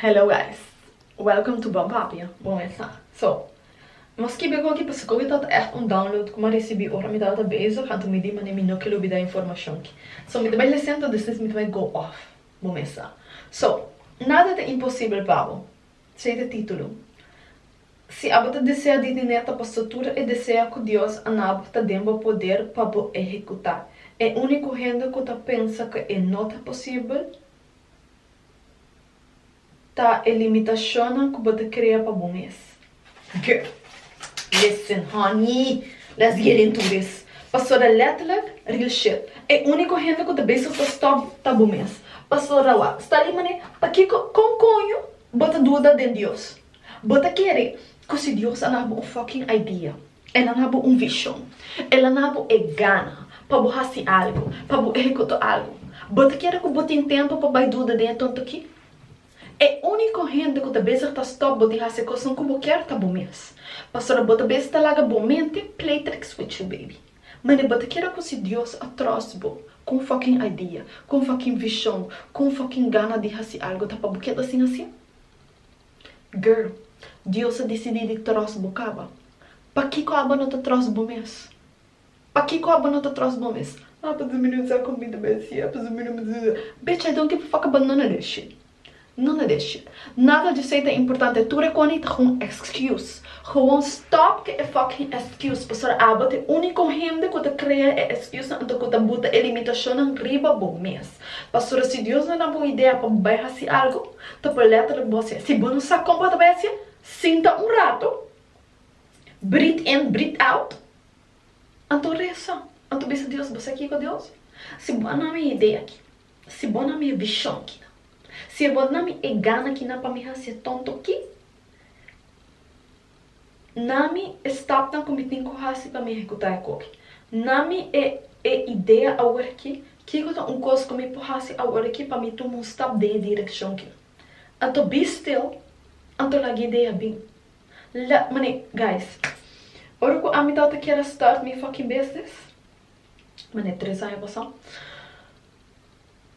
Hello guys welcome to Bonpapia bon mesa so nos kibi oko aki pasobra koe tabata echt un download ku mi a risibi ora mi tabata bezig anto mi di manera mi no kel obida informashon ki so mi ta bai lesen to despues mi ta bai go off bon mesa so nada ta imposibel pa bo esei ta titulo si abo ta desea di diné ta paso tur e desea ku Dios a nabo ta den bo poder pa bo ehekutá e uniko hende ku ta pensa ku e no ta posibel ta e limitashonnan ku bo ta krea pa bo mes? Ge, listen honey, let's get into this. Pasobra letterlik, real shit, e úniko hende ku ta bezig ta stòp ta bo mes. Pasobra wak, sta li manera, pakiko, kon koño bo ta duda den Dios? Bo ta kere ku si Dios a dal bo un fucking idea, E nan a bo un vishon. El a na bo e gana pa bo hasi algu, pa bo ehekutá algu. Bo ta kere ku bo tin tempu pa bai duda den e tontukí? E úniko hende ku ta bezig ta stòp bo di hasi e kosnan ku bo kier ta bo mes. Pasobra bo ta bes ta laga bo mente play tricks with you baby. Mane bo ta kere ku si Dios a tròst bo ku un fòkin idea, ku un fòkin vishon, ku un fòkin gana di hasi algu ta pa bo keda sin hasin? Girl, Dios a disidí di tròst bo kaba. Pakiko abo no ta tròst bo mes? Pakiko abo no ta tròst bo mes? Ah, pasobra mi no sa comida be así, ah, pasobra mi no mi sa. Bitch, I don't give a fuck about none of that shit. None of that shit. Nada dj'esei ta importante. Tur e koni ta gewoon excuse. Gewoon stop cu e fucking excuse, pasobra abo ta e único hende cu ta crea e excusenan anto cu ta buta e limitacionnan riba bo mes. Pastora, si Dios no na bo idea pa bo bai hasi algu, ta por letterlijk bo hacié. Si bo no sa con bo ta bai hacié, sinta un rato, breathe in, breathe out, anto reza, anto bisa Dios, bo sa kico Dios? Si bo a na mi e idea aki, si bo a na mi e vision aki, si bo a na mi e gana aki na pa mi hacié tonto ki, Nami e stapnan ku mi tin ku hasi pa mi ehekutá e koki. Nami e e idea aworakí, kiko ta un kos ku mi por hasi aworakí pa mi tuma un stap den e direkshon ki. Anto bi stil, anto laga e idea bin. La, manera, guys, ora ku ami tabata kier a start mi fucking business, manera tres aña pasá,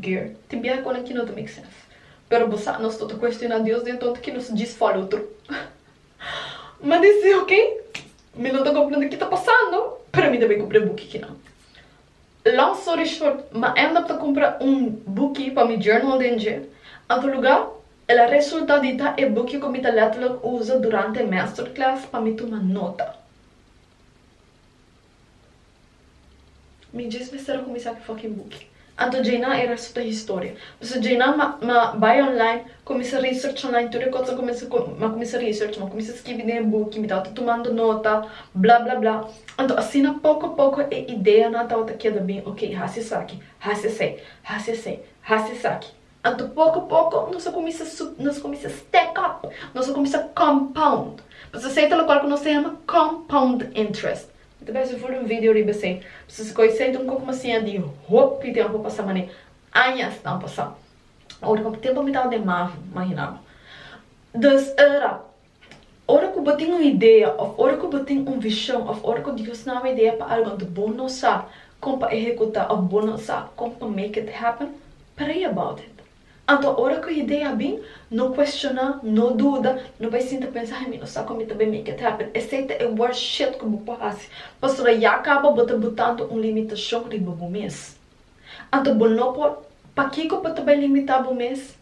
Geert, Tin biaha cu nan ki no ta make sense. Pero bo sa, nos no ta cuestiona Dios di anto ta ki nos djis follow through. Mi dici, ok, mi no ta comprende ki ta pasando, pero mi ta bay cumpra e buki kinan. Long story short, mi a end up ta cumpra un buki pa mi journal den dje. Anto luga, el a resulta di ta e buki cu mi ta letterlijk usa durante e masterclass pa mi tuma nota. Mi djes mester a kuminsá ku fucking buki. Anto djeinan e resto ta historia. Pasobra djeinan ma ma bai online, kuminsá research online tur e kos, kuminsá ku ma kuminsá research, ma kuminsá skibi den e buki, mi tabata tumando nota, bla bla bla. Anto asina poko poko e ideanan tabata keda bin, ok, hasi esaki, hasi esei, hasi esei, hasi esaki. Anto poko poko nos a kuminsá nos a kuminsá stack up, nos a kuminsá compound. Pasobra esei ta lokual ku nos ta yama compound interest. Mi ta besi full un video riba esei, pasobra si ku esei ta un poko mas siña di hopi di tempu a pasá manera aña a stan pasá. Hopi tempu mi tava den Mavo, imaginá bo. Dus ora Ora ku bo tin un idea òf ora ku bo tin un vishon òf ora ku Dios nan haña idea pa algu anto bo no sa kon pa ehekutá òf bo no sa kon pa make it happen, pray about it. Anto ora ku e idea bin, no kuestioná, no duda, no bai sinta a pensa, Ai mi no sa kon mi ta bai make it happen. Esei ta e worst shit ku bo por hasi, pasobra ya kaba bo ta butando un limitashon riba bo mes. Anto bo no por, pakiko bo ta bai limitá bo mes?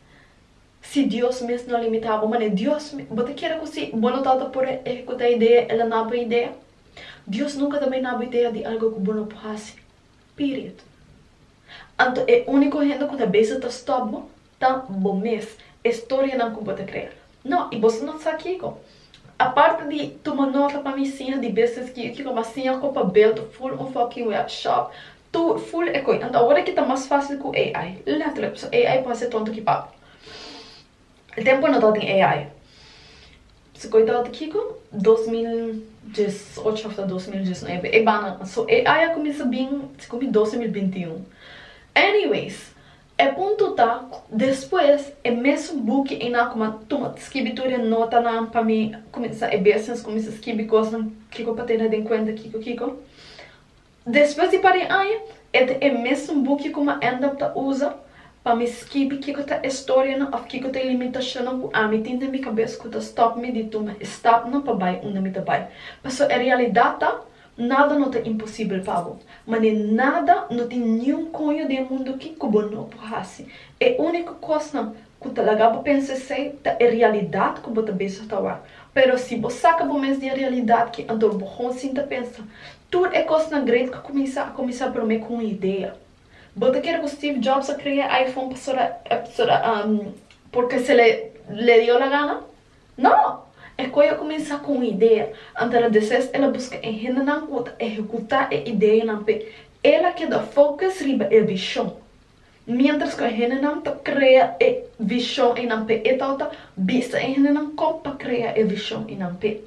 Si Dios mes no limitá bo, mane Dios mes, bo ta kere ku si bo no tabata por ehekutá e idea, el a na bo e idea? Dios nunka ta bai na bo idea di algu ku bo no por hasi. Period. Anto e úniko hende ku ta bisa ta stòp bo ta bo mes, e storianan ku bo ta krea. No, i boso no sa kiko. Aparte di tuma nota pa mi siña di business kiko kiko, m'a siña kompa bèlt full un fòkin wèp shòp, Tu full e koin. Ant awor ki ta mas fácil ku AI. Letterlijk, paso AI por hase tonto ki pape. E tempo no tabatin AI. Su koin tabata kiko? Dos mil dies ocho òf ta dos mil dies nuebe. E banda. So AI a kuminsá bin si ku mi doce mil binti i un. Anyways, e punto ta ku despues e mesun buki einan ku mi a tuma skibi tur e notanan pa mi kuminsá e business, kuminsá skibi kosnan kiko pa tene den kuenta kiko kiko. Despues di par di aña, e ta e mesun buki ku Maendap ta usa pa mi skibi kiko ta e storianan òf kiko ta e limitashonnan ku ami tin den mi kabes ku ta stòp mi di tuma e stapnan pa bai unda mi ta bai. Pasobra e realidat ta, nada no ta imposibel pa bo. Mane nada no tin niun koño den e mundu ki ku bo no por hasi. E úniko kosnan Ku ta laga bo pensa esei ta e realidat ku bo ta bezig ta wak. Pero si bo saka bo mes di e realidat ki anto bo gon sinta pensa. Tur e kosnan great ku kuminsá a kuminsá promé ku un idea. Bo ta kere ku Steve Jobs a krea e iPhone pasobra pasobra porque se le dio la gana? No! E koe a kuminsá ku un idea. Anto a deses el a buska e hendenan ku ta ehekutá e ideanan p'e. El a keda focus riba e vishon. miéntras ku e hendenan ta krea e vishon i nan pe e tau ta bisa e hendenan kon pa krea e vishon i nan pe.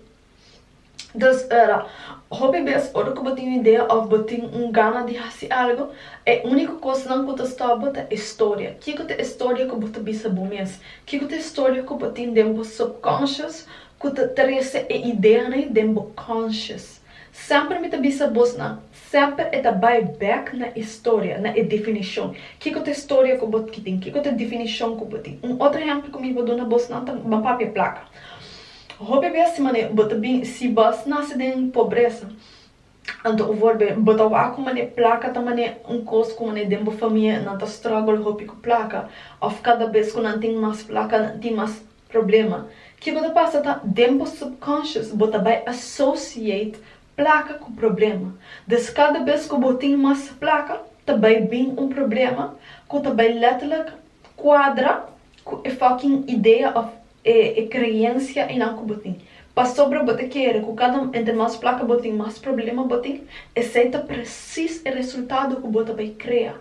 Entonces ora hopi bes ora ku bo tin un idea òf bo tin un gana di hasi algu e úniko kosnan ku ta stòp bo ta e storia, kiko ta e storia ku bo ta bisa bo mes, kiko ta e storia ku bo tin den bo subconscious ku ta trese e ideanan den bo conscious. Semper mi ta bisa bos nan, semper e ta bai bek na e storia, na e definishon. Kiko ta e storia ku bo tin? Kiko ta e definishon ku bo tin? Un otro ehempel ku mi bo duna bos nan ta na papia plaka. Hopi bes si mane bo ta bin, si bo a nase den pobresa, anto un for bes bo ta wak ku mane plaka ta mane un kos ku mane den bo famia nan ta struggle hopi ku plaka, òf kada bes ku nan tin mas plaka nan tin mas. Problema, Ke ku ta pasa ta, den bo subconscious bo ta bai associate plaka ku problema. Dus kada bes ku bo tin mas plaka, ta bai bin un problema ku ta bai letterlijk kuadra ku e fucking idea of e kreensia einan ku bo tin. Pasobra bo ta kere ku kada entre mas plaka bo tin, mas problema bo tin, esei ta presis e resultado ku bo ta bai krea.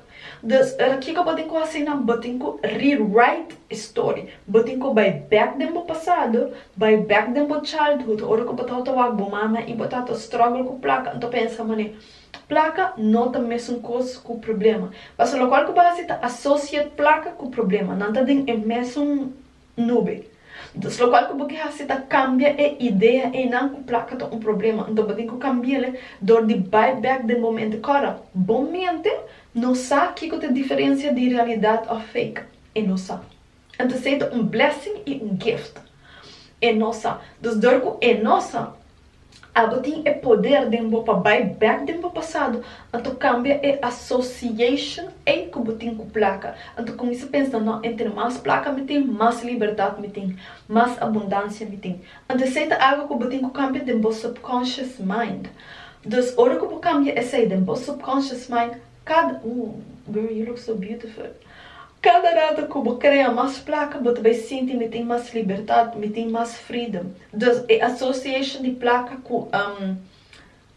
Dus, ora kiko bo tin ku asina? Bo tin ku rewrite e story. Bo tin ku bai bek den bo pasado, bai bek den bo childhood, ora ku bo tabata wak bo mama i bo tata struggle ku plaka, anto pensa, Mane, plaka no ta mesun kos ku problema. Paso lokual ku bo hasi ta associate plaka ku problema. Nan ta den e mesun nube. Ntus, lokual ku bo ke hasi ta kambia e idea einan ku plaka ta un problema. Anto bo tin ku kambi'le dor di bai bèk den bo mente. Kòrda, bo mente no sa kiko ta e diferensia di realidat òf fake. E no sa. Anto esei ta un blessing i un gift. E no sa. Ntus, dor ku e no sa, Abo tin e poder den bo pa bai bek den bo pasado, anto cambia e association ey cu bo tin cu placa, anto cuminsa pensa no entre mas placa mi tin mas libertad mi tin, mas abundancia mi tin, anto esey ta algo cu bo tin cu cambia den bo subconscious mind, dus ora cu bo cambia esey den bo subconscious mind, Kada, ooh girl you look so beautiful, kada rato ku bo krea mas plaka bo ta bai sinti mi tin mas libertat, mi tin mas freedom. Dus e association di plaka ku um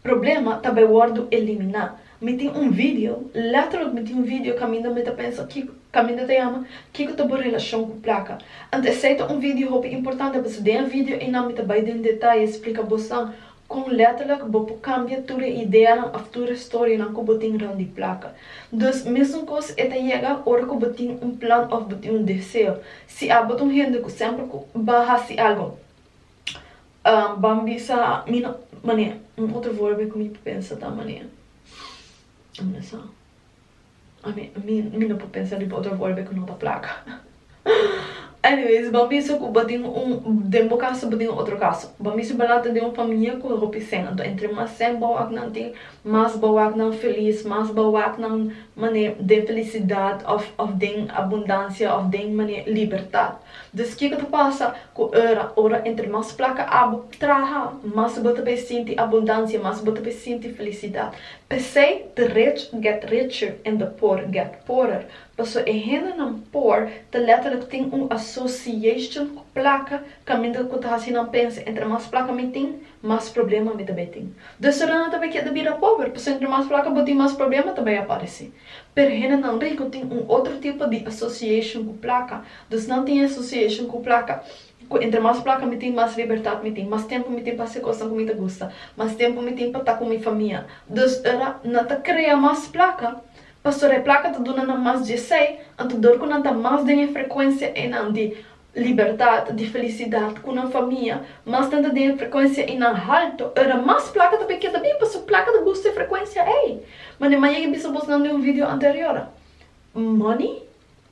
problema ta bai wòrdu eliminá. Mi tin un video, letterlijk mi tin un video kaminda mi ta pensa kiko, kaminda ta yama Kiko ta bo relashon ku plaka? Anto esei ta un video hopi importante pasobra den e video einan mi ta bai den detaye splika bosan Kon letterlijk bo por cambia tur e ideanan of tur e storienan cu bo tin rond di placa. Dus mesun cos e ta yega ora cu bo tin un plan of bo tin un deseo. Si abo ta un hende cu semper cu ba haci algo ban bisa mi no manera. Un otro vorbe cu mi ta pensa ta manera. ami mi no por pensa riba otro golpe ku no ta plaka anyways bo miso ku bo tin un den bo kaso bo tin otro kaso bo miso bo later den un famia ku hopi sèn anto entre mas sèn bawak nan tin mas bawak nan felis mas bawak nan mane den felisidat òf òf den abundansia òf den mane libertat dus kiko ta pasa ku ora ora entre mas plaka abo traha mas bo ta bay sinti abundansia mas bo ta bay sinti felisidat P'esei the rich get richer en the poor get poorer, paso e hendenan poor ta letterlijk tin un association cu placa caminda cu ta haci nan pensa entre mas placa mi tin, mas problema mi ta bay tin. Dus tur nan ta bay keda bida pober, paso entre mas placa bo tin mas problema ta bay apareci. Pero hendenan rico tin un otro tipo di association cu placa, dus nan tin e association cu placa, Cu entre mas placa mi tin, mas libertad mi tin, mas tempo mi tin pa haci cosnan cu mi ta gusta, mas tempo mi tin pa ta cu mi famia. Dus ora nan ta crea mas placa, pastora e placa ta duna nan mas djesey, anto dor cu nan ta mas den e frecuencia eynan di libertad, di felicidad cu nan famia, mas nan ta den e frecuencia eynan halto, ora mas placa ta bay keda bin, pasobra placa ta gusta e frecuencia ey. Ma ne maya e bisa bosnan den un video anterior, money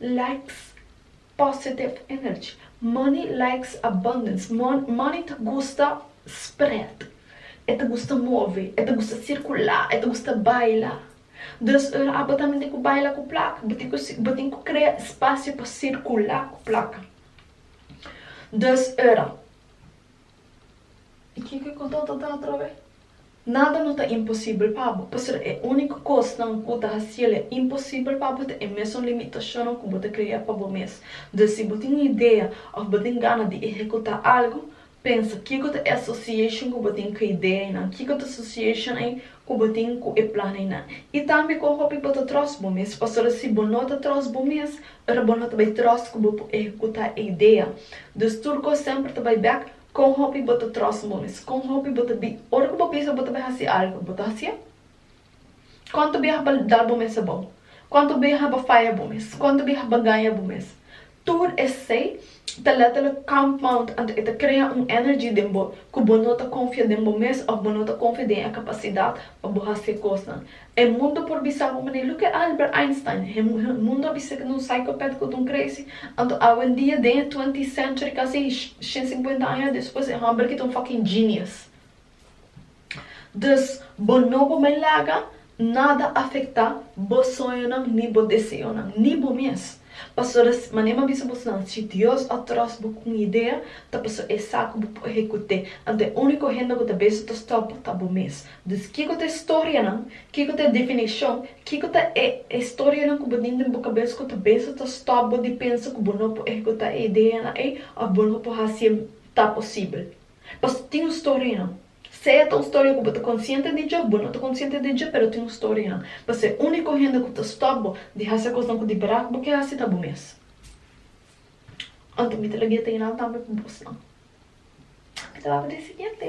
likes. Positive energy, money likes abundance, money ta gusta spread, e ta gusta move, e ta gusta circula, e ta gusta baila, dus ora abo tambe tin cu baila cu placa, bo tin cu crea espacio pa circula cu placa, dus ora I kiko ku Tata ta atrab'é? Nada no ta imposibel pa bo. Pasobra e úniko kosnan ku ta hasiel e imposibel pa bo ta e mesun limitashonnan ku bo ta krea pa bo mes. Dus si bo tin un idea òf bo tin gana di ehekutá algu, pensa, Kiko ta e asosiashon ku bo tin ku e idea einan? Kiko ta asosiashon ei? ku bo tin ku e planainan i tambe kon hopi bo ta tròst bo mes. Pasobra si bo no ta tròst bo mes, ora bo no ta bai tròst ku bo por ehekuta e idea. Dus tur kos semper ta bai bèk, kon hopi bo ta tròst bo mes, kon hopi bo ta bi ora ku bo pensa bo ta bai hasi algu, bo ta hasié. Konta biaha bo a da bo mes abou? Konta biaha bo a faya bo mes? Konta biaha bo a gaña bo mes? Tur esei ta letterlijk compound anto e ta crea un energy den bo cu bo no ta confia den bo mes of bo no ta confia den e capacidad pa bo haci cosnan. E mundo por bisa bo manera look at Albert Einstein, he mundo a bisa cu ta un psychopath cu ta un crazy anto awendia den e twentieth century casi shen cincuenta aña despues e homberki ta un fucking genius. Dus, bo no por mai laga nada afektá bo soñonan ni bo deseonan, ni bo mes. Pasobra si, manera mi a bisa boso nan, si Dios a tròs bo ku un idea, ta pasobra esei ku bo por ehekut'é. Anto e úniko hende ku ta bese ta stòp bo ta bo mes. Dus, kiko ta e storianan, kiko ta e definishon, kiko ta e e storianan ku bo tin den bo kabes ku ta bese ta stòp bo di pensa ku bo no por ehekutá e ideanan ei òf bo no por hasié ta posibel? Pasto tin un storianan. Sea ta un storia ku bo ta konsiente di dje, bo no ta konsiente di dje, pero tin un storianan. Paso e úniko hende ku ta stòp bo di hasi e kosnan ku di bèrdat bo ke hasi ta bo mes. Anto mi ta lagueta i nan tambe pa bosnan. Mi ta wak di e siguiente.